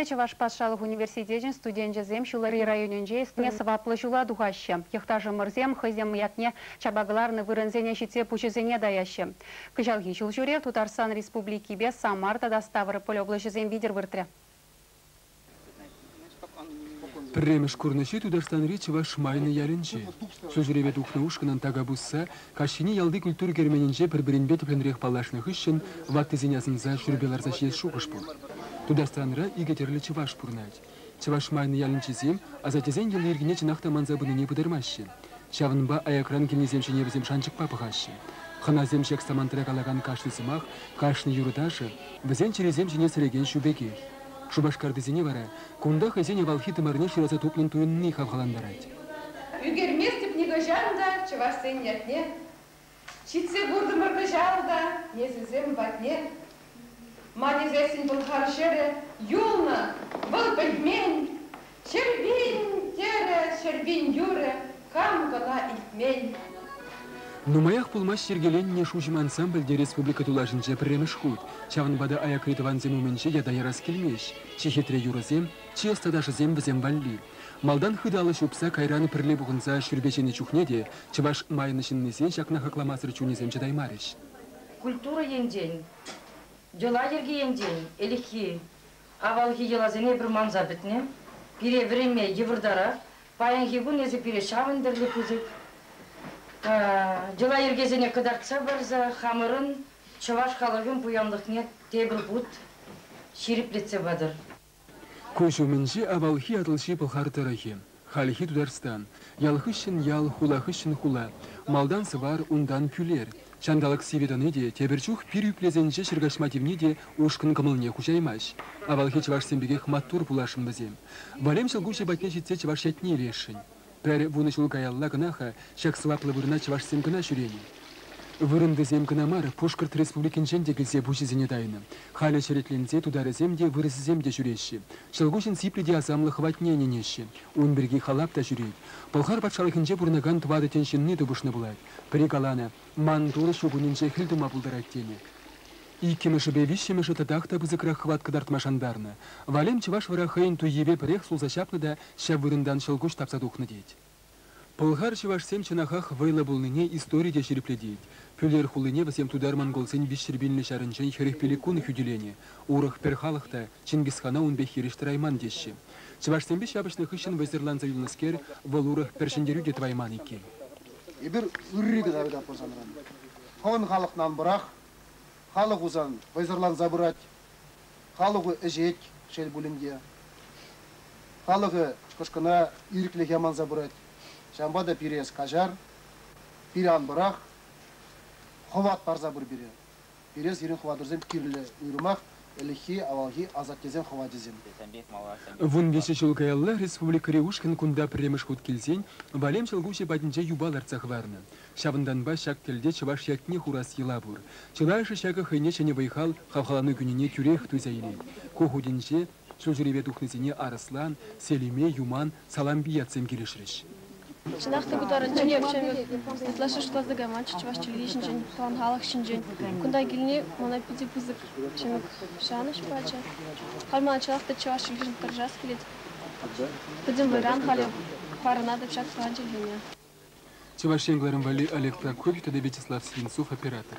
Чӑваш патшалӑх университечӗн студенчӗсем ҫулри районӗнче ӗҫсене сӑваплӑ ҫула тухаҫҫӗ. Йӑхташӑмӑрсем хӑйсем ятне чапа кӑларнӑ вырӑнсене ҫитсе пуҫӗсене таяҫҫӗ. Кӑҫалхи ҫул ҫӳрев Тутарстан Республикипе Самар тата Ставрополь облаҫӗсем витӗр выртрӗ. Пӗрремӗш курнӑҫи Тутарстанри чӑваш Шмайлӗ ялӗнче. Су ҫӳреве тухнӑ ушкӑнӑн така пусса Каҫхине ялти культура керменӗнче пӗр-пӗринпе тӗплӗнрех паллашнӑ хыҫҫӑн ваттисен асӑнса ҫӳрепе ларса ҫиес шухӑш пур. Тутарстанра икӗ тӗрлӗ чӑваш пурӑнать. Чӑваш Майнӑ ялӗнчисем асаттесен йӑли-йӗркине чӑнах та манса пынине пытармаҫҫӗ. Ҫавӑнпа аякран килнисем ҫине вӗсем шанчӑкпа пӑхаҫҫӗ. Хӑнасем ҫак самантра калакан кашни сӑмах, кашни юрӑ-ташӑ, вӗсен чӗрисем ҫине сӗрекен ҫу пекех. Шупашкартисене вара кунта хӑйсен авалхи тымарне шыраса тупнӑн туйӑнни хавхалантарать. Ӳкерместӗп нихӑҫан та чӑвашсен ятне. Ҫитсе куртӑмӑр кӑҫал та несӗлсем патне. Ман эсессӗн пӑлхав ҫӗрӗ юлнӑ, вӑл пӗтмен. Ҫӗрпин, терӗ ҫӗрпин юрӗ, хам кӑна илтмен. Нумаях пулмасть йӗркеленнӗ Шуҫӑм ансамбльте республика тулашӗнче пӗрремӗш хут, ҫавӑнпа та аякри тӑвансем умӗнче ята ярас килмест, чи хитре юрӑсем, чи ӑста ташӑсем вӗсем валли. Малтан хыталӑ ҫупса кайран пӗрле пухӑнса шӳрпе ҫинӗ чухне те чӑваш майӑн ҫыннисен ҫакна хакламасӑр чунӗсем чӑтаймарӗҫ. Культура енчен, йӑла-йӗрке енчен ӗлӗкхи, авалхи йӑласене эпир манса пӗтнӗ. Пире вӗренме йывӑртарах. Паянхи кун эсӗ пире ҫавӑн тӗрлӗ пысӑк йӑла-йӗркесене кӑтартса парса хамӑрӑн чӑваш халӑхӗн пуянлӑхне тепӗр хут ҫирӗплетсе патӑр. Куҫ умӗнчи авалхи Атӑлҫи Пӑлхар тӑрӑхӗ, хальхи Тутарстан, ял хыҫҫӑн ял, хула хыҫҫӑн хула, малтан Сӑвар, унтан Кӳлер, ҫанталӑк сивӗ тӑни те, тепӗр чух пир ӳплесенче ҫӗр каҫма тивни те ушкӑн кӑмӑлне хуҫаймасть. Авалхи чӑвашсем пекех маттур пуласшӑн вӗсем. Валем ҫӑлкуҫӗ патне ҫитсе чӑваш ятне илесшӗн. Пӗр вунӑ ҫул каялла кӑна-ха ҫак сӑваплӑ вырӑна чӑвашсем кӑна ҫӳренӗ. Вырӑнтисем кӑна мар, Пушкӑрт Республикинчен те килсе пуҫӗсене тайнӑ. Халӗ черетленсе тутарӗсем те, вырӑсӗсем те ҫӳреҫҫӗ. Ҫӑлкуҫӑн сиплӗ те асамлӑ хӑватне ӗненеҫҫӗ. Ун пирки Халап та ҫӳрет. Пӑлхар патшалӑхӗнче пурӑнакан тӑватӑ тӗн ҫынни тупӑшнӑ пулать. Пӗри каланӑ, Ман Турӑ ҫу кунӗнче хӗл тума пултарать тенӗ. Иккӗмӗшӗпе виҫҫӗмӗшӗ татах та пысӑкрах хӑват кӑтартма шантарнӑ. Валем чӑваш вара хӑйӗн туййипе пӗрех сулса ҫапнӑ та ҫав вырӑнтан ҫӑлкуҫ тапса тухнӑ тет. Пӑлхар чӑвашсем чӑнахах вӑйлӑ пулнине истори те ҫирӗплетет. Пӳлер хулине вӗсем тутар-монголсен виҫҫӗр пӳлнӗ ҫарӗнчен хӗрӗх пиллӗккун хӳтӗленӗ, урӑх пӗр халӑх та Чингисхана ун пек хирӗҫ тӑрайман теҫҫӗ. Чӑвашсемпе ҫапӑҫнӑ хыҫҫӑн вӑйсӑрланса юлнӑскер, вӑл урӑх пӗр ҫӗнтерӳ те тӑвайман иккен. Эпир ырри кӑна тытатпӑр санран. Хӑвӑн халӑхна ан пӑрах. Халӑх у сан вӑйсӑрланса пырать. Халӑху ӗҫет, шел пулин те. Халӑхӗ кӑшкӑна ирӗклӗх яманса пырать. Ҫавӑнпа та пире эс каҫар, пире ан пӑрах, хӑват парса пыр пире. Пире сирӗн хӑватӑрсем кирлӗ уйрӑмах ӗлӗкхи, авалхи асаттесен хӑвачӗсем. Тесен пек малашне. Вун виҫӗ ҫул каялла республикӑри ушкӑн кунта пӗрремӗш хут килсен Валем ҫӑлкуҫӗ патӗнче юпа лартса хӑварнӑ. Ҫавӑнтанпа ҫак тӗлте чӑваш ятне хурас йӑла пур. Чылайӑшӗ ҫакӑ хӑйне ҫӗнӗ вӑй-хал, хавхалану кӳнине тӳрех туйса илет. Ку хутӗнче ҫулҫӳреве тухнисене Арӑслан, Селиме, Юман, Салампи ятсем килӗшрӗҫ. Чӑнах та пытарӑнччен Артемьев ытлашши шутласа кайманччӗ чӑваш чӗлхи ҫинчен, тӑван халӑх ҫинчен. Кунта килни мана питӗ пысӑк ҫӗнӗ шанӑҫ пачӗ. Халь мана чӑнах та чӑваш чӗлхишӗн тӑрӑшас килет. Пӗтӗм вӑйран халӗ парӑнатӑп ҫак тӑван чӗлхене. Чӑваш Ен кӑларӑм валли Олег Прокопьев тата Вячеслав Свинцов оператор.